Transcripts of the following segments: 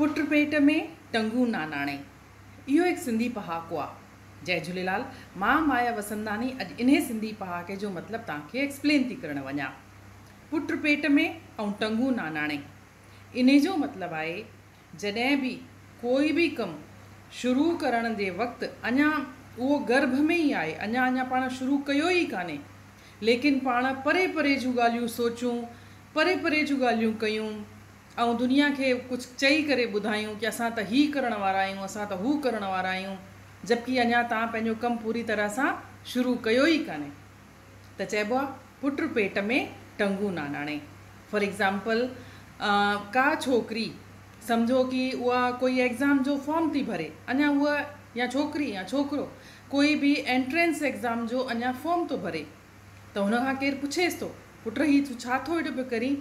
پٽ پيٽ ۾ ٽنگون ناناڻي اهو هڪ سنڌي پهاڪو آ. جئي جهوليلال مان مايا وسنداني اڄ انهي سنڌي پهاڪي جو مطلب توهان کي ايڪسپلين ٿي ڪرڻ وڃان پٽ پيٽ ۾ ۽ ٽنگون ناناڻي انهي جو مطلب آهي جڏهن به ڪوئي به ڪم شروع ڪرڻ جي وقت اڃا اهو گرڀ ۾ ئي آهي اڃا اڃا پاڻ شروع ڪيو ئي ڪانهي ليڪن پاڻ پري پري جون ڳالهيون سوچون پري پري جون ڳالهيون ڪيون آئون دنيا کي ڪجهه چئي ڪري ٻڌايون ڪي اسان ته هي ڪرڻ وارا آهيون اسان ته هو ڪرڻ وارا آهيون جبڪي اڃا تان پنهنجو ڪم پوري طرح سان شروع ڪيو ئي ڪانهي ته چئبو آ پٽ پيٽ ۾ ٽنگون ناناڻي فار ايگزامپل ڪا ڇوڪري سمجهو ڪي اها ڪوئي ايگزام جو فارم ٿي ڀري اڃا اها يا ڇوڪري يا ڇوڪرو ڪوئي به اينٽرينس ايگزام جو اڃا فارم ٿو ڀري ته هن کان ڪير پڇيس ٿو پٽ هي تو ڇا ٿو هيڏو پيو ڪرين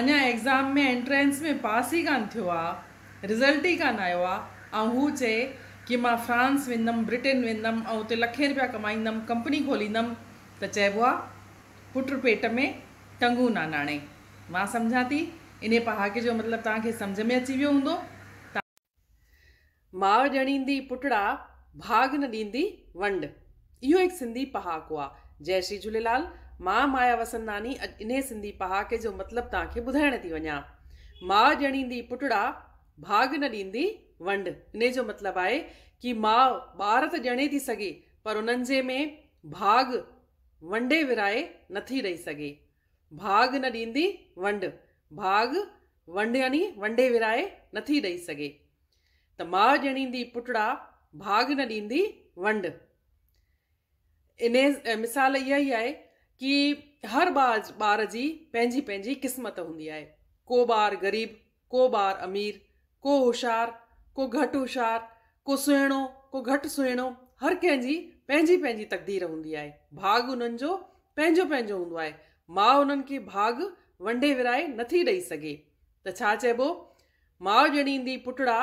اڃا ايگزام ۾ انٽرينس ۾ پاس ئي ڪانه ٿيو آ رزلٽ ئي ڪانه آيو آ ۽ هو چئي ڪي مان فرانس ويندم برٽين ويندم ۽ اتي لکين روپيا ڪمائيندم ڪمپني کوليندم ته چئبو آ پٽ پيٽ ۾ ٽنگون ناناڻي مان سمجهان ٿي انهي پهاڪي جو مطلب توهان کي سمجهه ۾ اچي ويو هوندو ته ماء ڄڻيندي پٽڙا، ڀاڳ نه ڏيندي ونڊ. اهو هڪ سنڌي پهاڪو آ. جئه شري جهوليلال، مان مايا وسنداني اڄ انهي سنڌي پهاڪي جو مطلب توهان کي ٻڌائڻ ٿي وڃان. ماء ڄڻيندي پٽڙا، ڀاڳ نه ڏيندي ونڊ. انهي جو مطلب آهي ڪي ماء ٻار ته ڄڻي ٿي سگهي پر انهن جي ۾ ڀاڳ ونڊي ورهائي نٿي ڏئي سگهي. ڀاڳ نه ڏيندي ونڊ، ڀاڳ ونڊ يعني ونڊي ورهائي نٿي ڏئي سگهي ته ماء ڄڻيندي پٽڙا، ڀاڳ نه ڏيندي ونڊ. انهيء مثال اها ئي آهي ڪي هر ٻار جي پنهنجي پنهنجي قسمت هوندي آهي. ڪو ٻار غريب ڪو ٻار امير، ڪو هوشيار، ڪو گهٽ هوشيار، ڪو سهڻو، ڪو گهٽ سهڻو، هر ڪنهن جي پنهنجي پنهنجي تقدير هوندي آهي، ڀاڳ انهن جو پنهنجو پنهنجو هوندو آهي، ماء انهن کي ڀاڳ ونڊي ورهائي نٿي ڏئي سگهي ته ڇا چئبو، ماء ڄڻيندي پٽڙا،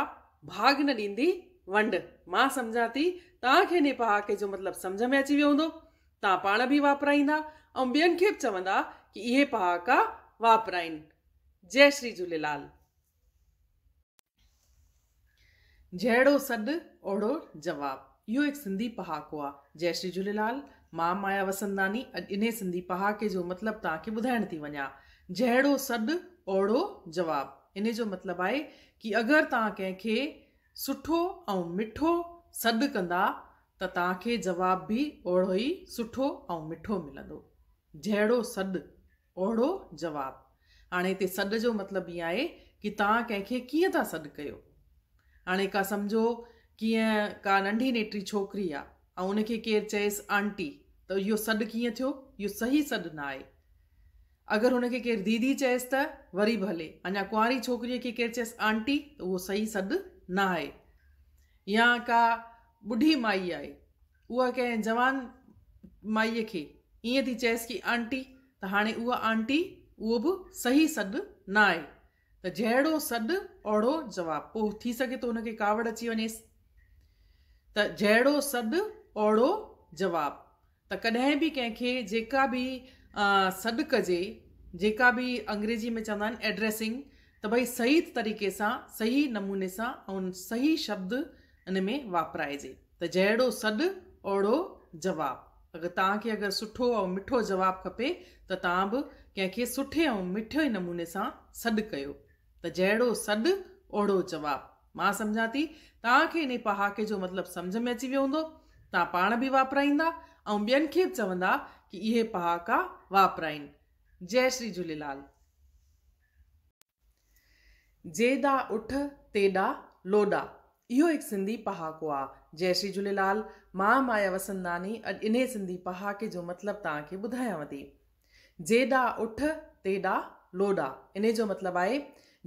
ڀاڳ نه ڏيندي ونڊ، مان سمجهان ٿي توهان کي انهي پهاڪي جو مطلب سمجهه ۾ اچي ويو هوندو، توهان پاڻ به واپرائيندا ۽ ٻين کي به چوندا ڪي اهي پهاڪا واپرائين. جئي شري جهوليلال. جهڙو سڏ اوهڙو جواب اهو هڪ سنڌي پهاڪو آ. جئي شري جهوليلال مان مايا وسنداني اڄ انهي سنڌي پهاڪي جو مطلب توهان کي ٻڌائڻ ٿي وڃان جهڙو سڏ اوهڙو جواب انهي جو مطلب آهي ڪي اگر توهان ڪنهن کي سٺو ۽ مٺو سڏ ڪندا ته توهان کي جواب به اوهڙو ئي سٺو ۽ مٺو ملندو جهڙو سڏ اوهڙو جواب. هاڻي هتي سڏ جو مطلب هي آهي ڪي توهان ڪنهن کي ڪيئن ٿا سڏ ڪيو. هاڻي ڪا سمجهو ڪيئن ڪا ننڍي نيٽري ڇوڪري آ ۽ ان کي ڪير چيس آنٽي ته اهو سڏ ڪيئن ٿيو اهو صحيح سڏ نه آهي. اگر ان کي ڪير ديدي چيس ته وري به هلي اڃا ڪنواري ڇوڪريء کي ڪير چيس آنٽي ته اهو صحيح سڏ نه آهي. يا ڪا ٻڍي مائي آهي اها ڪنهن جوان مائيء کي ائين ٿي چيس ڪي آنٽي ته هاڻي اها آنٽي اهو به صحيح سڏ نه آهي ته جهڙو سڏ اوڙهو جواب پوء ٿي سگهي ٿو ان کي ڪاوڙ اچي وڃيس ته جهڙو سڏ اوڙهو جواب ته ڪڏهن به ڪنهن کي جيڪا به سڏ ڪجي جيڪا به انگريزي ۾ چوندا آهن ايڊريسنگ ته ڀئي صحيح طريقي سان صحيح نموني سان ۽ صحيح شبد ان ۾ واپرائجي ته جهڙو سڏ اوڙو جواب. اگر توهان کي اگر سٺو ۽ مٺو جواب کپي ته توهان به ڪنهن کي سٺي ۽ مٺي نموني سان سڏ ڪيو ته جهڙو سڏ اوڙو جواب. مان سمجهان ٿي توهان کي انهي پهاڪي جو مطلب سمجهه ۾ اچي ويو هوندو. توهان پاڻ به واپرائيندا ۽ ٻين کي به چوندا ڪي اهي پهاڪا واپرائين. جئي شري جهوليلال. جيڏا اٺ تيڏا لوڏا اهو هڪ سنڌي پهاڪو آ. جئي شري جهوليلال مان مايا وسنداني اڄ انهي سنڌي پهاڪي جو مطلب توهان کي ٻڌايانو ٿي. جيڏا اٺ تيڏا لوڏا انهي جو مطلب آهي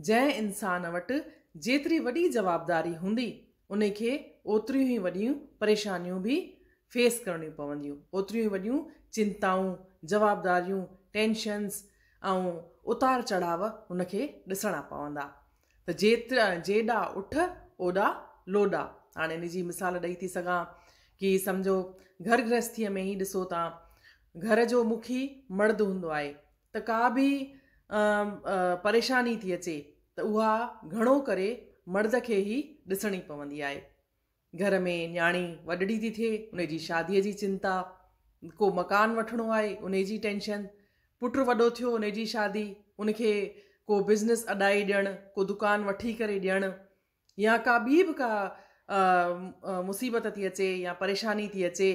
جنهن انسان وٽ جيتري وڏي جوابداري هوندي انهي کي اوتريون ئي وڏيون پريشانيون به فيس ڪرڻيون پونديون اوتريون ئي وڏيون چنتائون جوابداريون ٽينشنز ۽ اتار چڙهاء هن کي ڏسڻا پوندا ته جيترا جيڏا اٺ اوڏا لوڏا هاڻي ان جي مثال ڏئي ٿي سگهان ڪي سمجهو گهر گرهستيء ۾ ئي ڏسو ته گهر جو مکي مرد هوندو آهي ته ڪا به پريشاني ٿي اچي ته اها گهڻو ڪري مرد کي ئي ڏسڻي پوندي آهي گهر ۾ نياڻي وڏڙي ٿي ٿئي ان جي شاديء جي چنتا، ڪو مڪان وٺڻو آهي ان جي ٽينشن، پٽ وڏو ٿيو ان جي شادي، ان کي ڪو بزنس اڏائي ڏيڻ، ڪو دڪان وٺي ڪري ڏيڻ يا ڪا ٻي به ڪا مصيبت ٿي اچي يا پريشاني ٿي اچي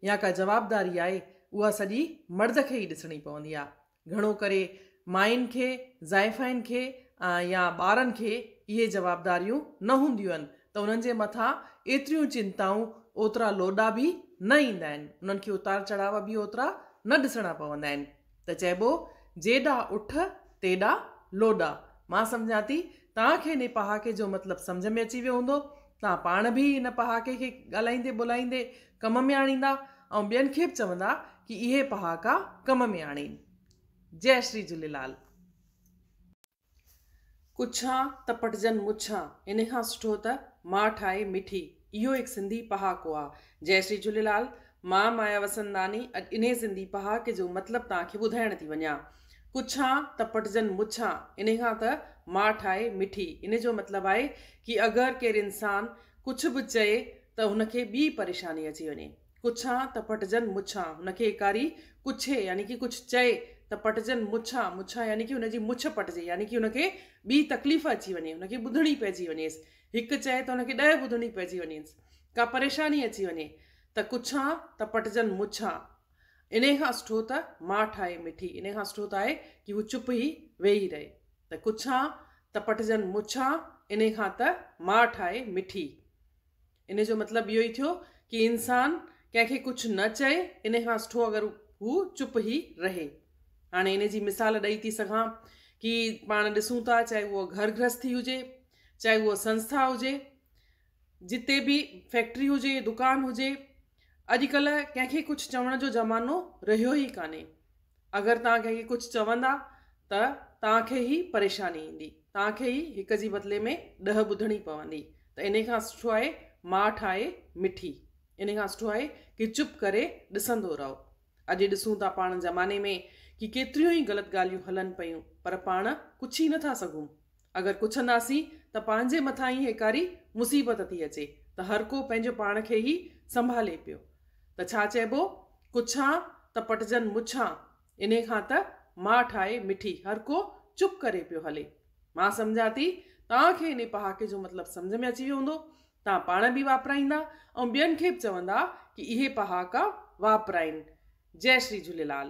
يا ڪا جوابداري آهي اها سڄي مرد کي ئي ڏسڻي پوندي آهي گهڻو ڪري ماين کي، زائفائن کي يا ٻارن کي اهي جوابداريون نه هونديون آهن ته انهن جي مٿان ايتريون چنتائون، اوترا لوڏا به نه ايندا آهن، انهن کي اتار چڙهاء به اوترا نه ڏسڻا پوندا آهن ته چئبو جيڏا اٺ تيڏا لوڏا. مان سمجهان ٿي توهان کي انهي پهاڪي جو مطلب سمجهه ۾ اچي ويو هوندو توهان پاڻ به ان پهاڪي کي ڳالهائيندي ٻولهائيندي ڪم ۾ آڻيندا ۽ ٻين کي به چوندا ڪي اهي پهاڪا ڪم ۾ آڻين. جئه شري جهوليلال. ڪڇان ته پٽجن مڇان انهي کان سٺو ته ماء ٺاهي مٺي اهو هڪ سنڌي پهاڪو آ. جئه شري جهوليلال. مان مايا وسنداني اڄ انهي سنڌي پهاڪي جو مطلب توهان کي ٻڌائڻ ٿي وڃان. ڪڇان ته پٽجن مڇان انهي کان ته ماٺ آهي مٺي انهي جو مطلب آهي ڪي اگر ڪير انسان ڪڇ به چئي ته هن کي ٻي پريشاني اچي وڃي ڪڇان ته پٽجن مڇان هن کي اڪاري ڪڇي يعني ڪي ڪڇ چئي ته پٽجن مڇان مڇان يعني ڪي هن جي مڇ پٽجي يعني ڪي هن کي ٻي تڪليف اچي وڃي هن کي ٻڌڻي پئجي وڃيس هڪ چئي ته هن کي ڏهه ٻڌڻي پئجي وڃيس ڪا پريشاني اچي وڃي ته ڪڇان ته پٽجن مڇان. انهيء کان سٺو ته ماٺ آهي مٺي، انهيء کان سٺو ته آهي ڪي هو چپ ئي ويهي رهي. ته ڪڇان ته پٽجن مڇان، انهيء کان ته ماٺ آهي مٺي. انهيء جو مطلب اهو ئي ٿيو ڪي انسان ڪنهن کي ڪڇ نه چئي، انهيء کان سٺو اگر هو چپ ئي رهي. هاڻي انهيء جي مثال ڏئي ٿي سگهان ڪي پاڻ ڏسون ٿا چاهي اهو گهر گرهستي هجي، چاهي اهو سنسٿا هجي، جتي به فيڪٽري هجي دڪان هجي اڄ ڪلهه ڪنهن کي ڪجهه چوڻ جو زمانو رهيو ئي ڪانهي اگر توهان ڪنهن کي ڪجهه چوندا ته توهان کي ئي پريشاني ايندي توهان کي ئي هڪ جي بدلي ۾ ڏهه ٻڌڻي پوندي ته انهي کان سٺو آهي ماٺ آهي مٺي انهي کان سٺو آهي ڪي چپ ڪري ڏسندو رهو اڄ ڏسون ٿا پاڻ زماني ۾ ڪي ڪيتريون ئي غلط ڳالهيون هلن پيون پر پاڻ ڪجهه ئي نٿا سگهون اگر ڪڇنداسين ته پنهنجي مٿان ئي هيڪاري مصيبت ٿي اچي ته هر ڪو پنهنجو پاڻ کي ئي سنڀالي پيو ته ڇا چئبو ڪڇان ته پٽجن مڇان انهي کان ته ماٺ آهي مٺي هر ڪو چپ ڪري پيو هلي مان سمجهان ٿي توهان کي انهي پهاڪي جو مطلب سمجهه ۾ اچي ويو هوندو توهان پاڻ به واپرائيندا ۽ ٻين کي به چوندا ڪي اهي پهاڪا واپرائين جئي شري جهوليلال.